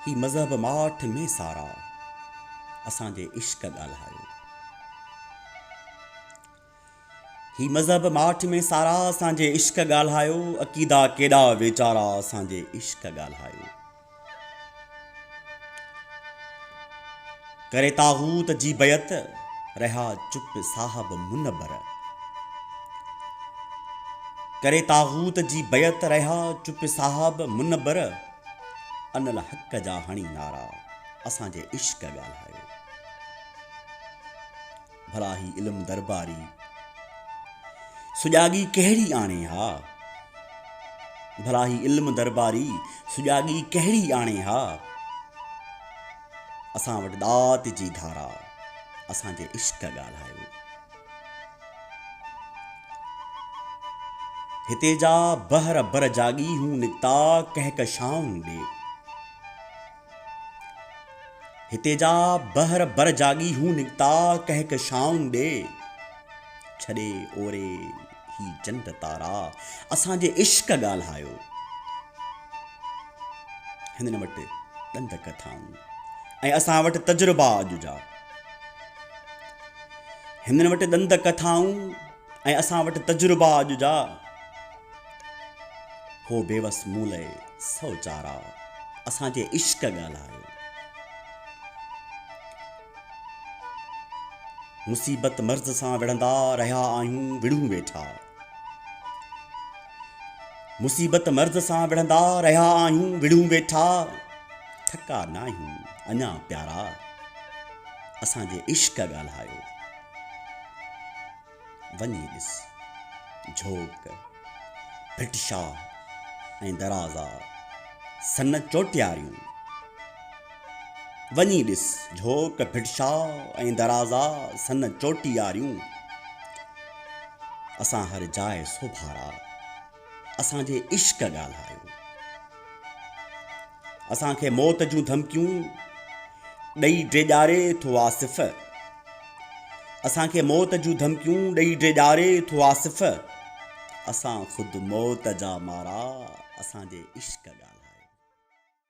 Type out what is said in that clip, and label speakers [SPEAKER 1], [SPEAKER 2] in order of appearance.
[SPEAKER 1] هي مذهب ماٺ مين سارا، اسان جي عشق ڳالهايو. هي مذهب ماٺ مين سارا، اسان جي عشق ڳالهايو. عقيدا ڪيڏا ويچارا، اسان جي عشق ڳالهايو. ڪري طاغوت جي بيعت، رهيا چپ صاحب منبر. ڪري طاغوت جي بيعت، رهيا چپ صاحب منبر. انالحق جا هڻي نعرا، اسان جي عشق ڳالهايو. ڀلا هي علم درباري، سجاڳي ڪهڙي آڻي ها. ڀلا هي علم درباري، سجاڳي ڪهڙي آڻي ها. اسان وٽ ڏات جي ڌارا اسان جي عشق ڳالهايو. هتي جا بحر بر جاڳي هون نڪتا ڪهڪشائون ڏي. هتي جا بحر بر جاڳي هون نڪتا ڪهڪشائون ڏي. ڇڏي اوري. هي چنڊ تارا اسان جي عشق ڳالهايو هنن وٽ ڏند ڪٿائون ۽ اسان وٽ تجربا اڄ جا هنن وٽ ڏند ڪٿائون ۽ اسان وٽ تجربا اڄ جا هو بيوس مون لئي سو چارا اسان جي عشق ڳالهايو مصيبت مرض سان وڙهندا رهيا آهيون وڙهون ويٺا مصيبت مرض سان وڙهندا رهيا آهيون وڙهون ويٺا ٿڪا ناهيون اڃا پيارا اسان جي عشق ڳالهايو وڃي ڏس، جھوڪ، ڀٽشاھ ۽ درازا، سن چوٽياريون. وڃي ڏس، جھوڪ، ڀٽشاھ ۽ درازا، سن چوٽياريون. اسان ھر جاء سوڀارا، اسان جي عشق ڳالھايو. اسان کي موت جون ڌمڪيون ڏئي ڊيڄاري ٿو آصف اسان کي موت جون ڌمڪيون ڏئي ڊيڄاري ٿو آصف اسان خود موت جا مارا اسان جي عشق ڳالهايو